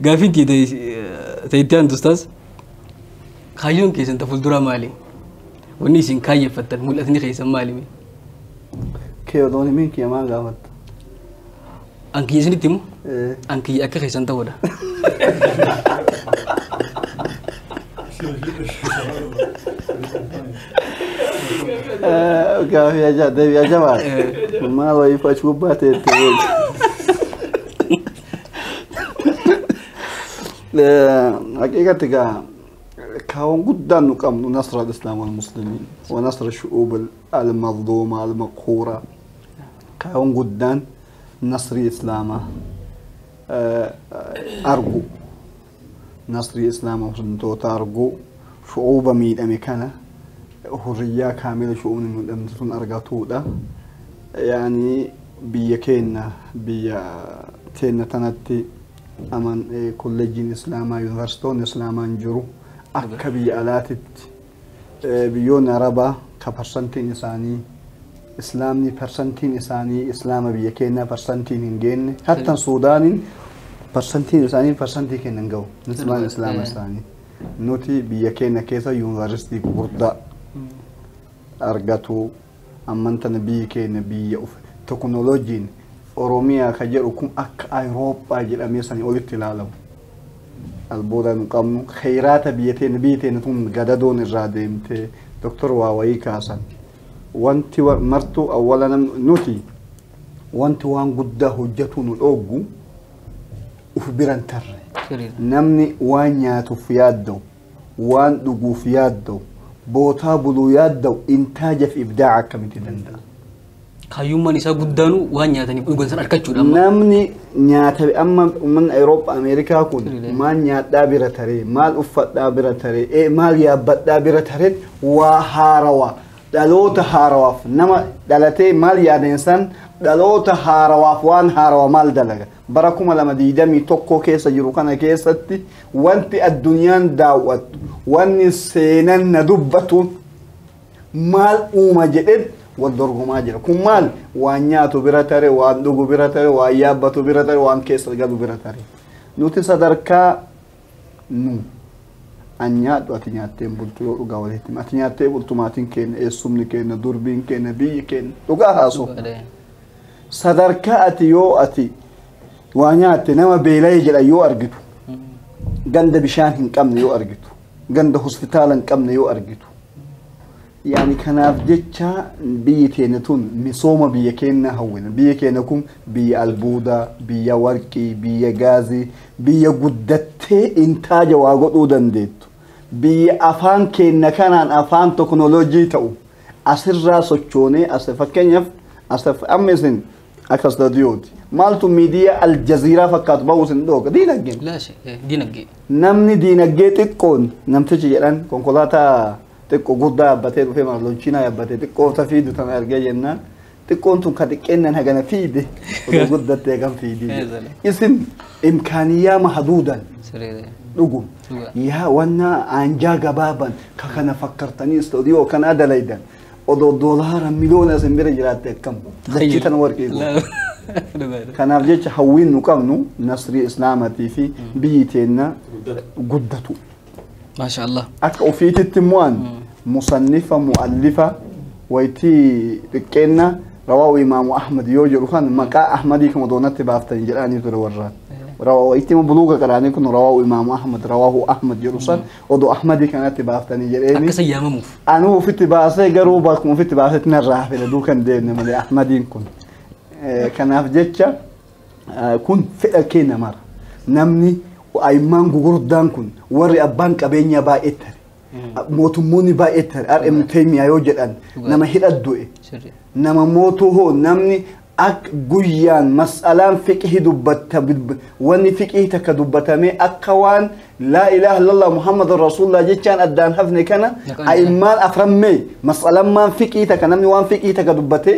Gaafiin kee ta'etti aantu ustaas kaayyoon keessan ta fuulduraa maali? Wanni isin kaayyeffattan mul'atni keessan maali? Kee otoon himiin kee maa gaafatta? An kiyya isinitti himu. An kiyya akka keessan ta'uudha. Gaafii ajaa deebii ajaa waan. Maal wayii fachi gubbaa teette. Haqiiqatti gaa kaawwan guddaan nu qabnu nasra al-islaam wal-muslimiin wa nasra shu'uub al-mazluuma al-maqhuura Kaayyoon guddaan nasrii Islaamaa argu nasrii Islaama muslimtoota argu shu'uuba miidhame kana hurriyyaa kaamila shu'uubni miidhamte sun argatuudha. Yaani biyya keenya biyya keenya tanatti aman kolleejjiin Islaamaa yuunivarsiitoonni Islaamaa hin jiru akka biyya alaatitti. Biyyoonni Arabaa ka parsantiin isaanii Islaamni parsantiin isaanii Islaama biyya keenyaa parsantiin hin geenne hattan Suudaaniin parsantiin isaanii parsantii keenya hin gahu Islaam Islaama isaanii nuti biyya keenya keessa yuunivarsiitii gurguddaa argatu Amman tana biyyi keenya biyya uf tokonolojiin Oromiyaa ka jedhu kun akka Ayroophaa jedhamee sanii olitti ilaalamu. Albuuda nu qabnu, kheyraata biyya teenya, biyyi teenya tun gadadoon irraa deemtee Dr. waa wayii kaasan. Wanti wa- martuu awwala nam nuti wanti waan guddaa hojjatuu nu dhooggu uf biran tarre. Sirriidha. Namni waan nyaatuuf yaadda'u waan dhuguuf yaadda'u, bootaa buluu yaadda'u intaajaf ibdaa'a akkamitti danda'a? Kaayyummaan isaa guddaanu waan nyaataniif dhugan san argachuudha amma. Namni nyaata amma uummanni Awurooppaa Ameerikaa kun Rilee. maal nyaadhaa bira taree, maal uffadhaa bira taree, ee, maal yaabbadhaa bira taree waa haarawaa dhaloota haarawaaf nama dhalatee maal yaadeen san dhaloota haarawaaf waan haarawaa maal dalaga. Bara 2021 keessa jiru kana keessatti wanti addunyaan daawwattu, wanni seenan na dubbatu maal uuma jedheen wal dorgomaa jira. Kun maal? Waan nyaatu bira tare, waan dhugu bira tare, waan yaabbatu bira tare, waan keessa galu bira tare. Nuti sadarkaa nu. An nyaadhu ati nyaattee hin bultu yoo dhugaa walitti hima. Ati nyaattee bultu maatiin keenya, eessumni keenya, durbiin keenya, biyyi keenya. Dhugaa haasoo. Dhugaadha. Sadarkaa ati yoo ati waa nyaatte nama beela'ee jedha yoo argitu. Ganda bishaan hin qabne yoo argitu. Ganda hospitaala hin qabne yoo argitu. Yaani kanaaf jecha biyyi teenya tun misooma biyya keenya hawwina. Biyya keenya kun biyya albuuda, biyya warqii, biyya gaazii, biyya guddattee intaaja waa godhuu dandeettu. Biyya afaan keenya kanaan afaan teknolojii ta'u asirraa sochoonee as fakkeenyaaf as amma isin akka istadiyooti. Maaltu miidiyaa aljaziiraa fakkaatu bahuu isin dhooga diinagdeen. Laa shakka dinagdee. Namni diinagdee xiqqoon namtichi jedhan konkolaataa Xiqqo guddaa yabbatee dhufee maaf lonchiinaa yabbate xiqqoo ta fiidu tana argee jennaan xiqqoon tun ka xiqqeennan hagana fiide odoo guddatte hagam fiidi jedhe. isin imkaaniyyaa mahaduudan Siree. dhugum Dhugaa. yaa wannaa aanjaa gabaaban ka kana fakkartanii istoodiyoo kanaa dalaydan odoo doolaara miliyoona isin bira jiraatte akkam dachii tana warqii goote. Dhugaadha. kanaaf jecha hawwiin nu qabnu nasrii islaamatii fi biyyi teenna guddatu Maasha Allah. akka ofiititti immoo an musannifa mu'allifa waytii xiqqeenna rawaahu imaamu ahmad yoo jedhu kan maqaa ahmadii kama doonatti baaftanii jedhaanii ture warra rawaa waytii immoo buluuga qaraanii kun rawaahu imaamu ahmad rawaahu ahmad jedhu san odoo ahmadii kanatti baaftanii jedheeni Akka isa yaamamuuf. anuu ofitti baasee garuu bakkuma ofitti baasetti narraa hafe laduu kan deemne malee ahmadiin kun Eh, kanaaf jecha kun fedha kee namara namni ayimmaan gugurdaan kun warri abbaan qabeenyaa baay'ee tare mootummoonni baay'ee tare RM Teemiyaa yoo jedhan nama hidha du'e Sirri. nama mootuu hoo namni akka guyyaan mas'alaan fiqhi dubbatta wanni fiqhi takka dubbatamee akka waan laa ilaaha illallah muhammad rasuulullah jechaan addaan hafne kana Naqaan jira. ayimmaan aframmee mas'alammaan fiqhi takka namni waan fiqhi takka dubbatee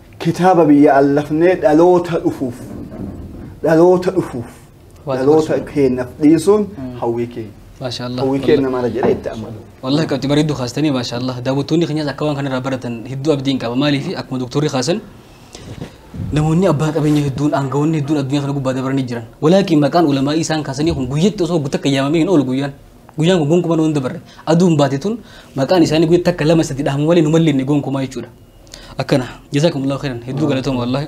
Kitaaba biyya allafnee dhaloota dhufuuf dhaloota dhufuuf Waa dhaloota dabarsuun. keenyaaf dhiisuun hawwii keenya. Maashaallah. Hawwii keenya mara jedhee itti amanu. Wallahi qabxii bareedduu kaastanii maashaallah daawwattoonni keenyas akka waan kanarraa baratan hedduu abdiin qaba maaliif akkuma doktorri kaasan namoonni abbaa qabeenya hedduun aangawoonni hedduun addunyaa kana gubbaa dabaranii jiran walaakin maqaan ulamaa'ii isaan kaasanii kun guyyatti osoo guutakka yaamamee hin oolu guyyaan Guyyaan kun gonkumaa nu hin dabarre. Aduun baate tun maqaan isaanii guyyaa takka lama sadi dhahamu malee nu mallinne gonkumaa jechuudha. Akkana. Jazakumullahu khairan. Hedduu galatooma wallahi.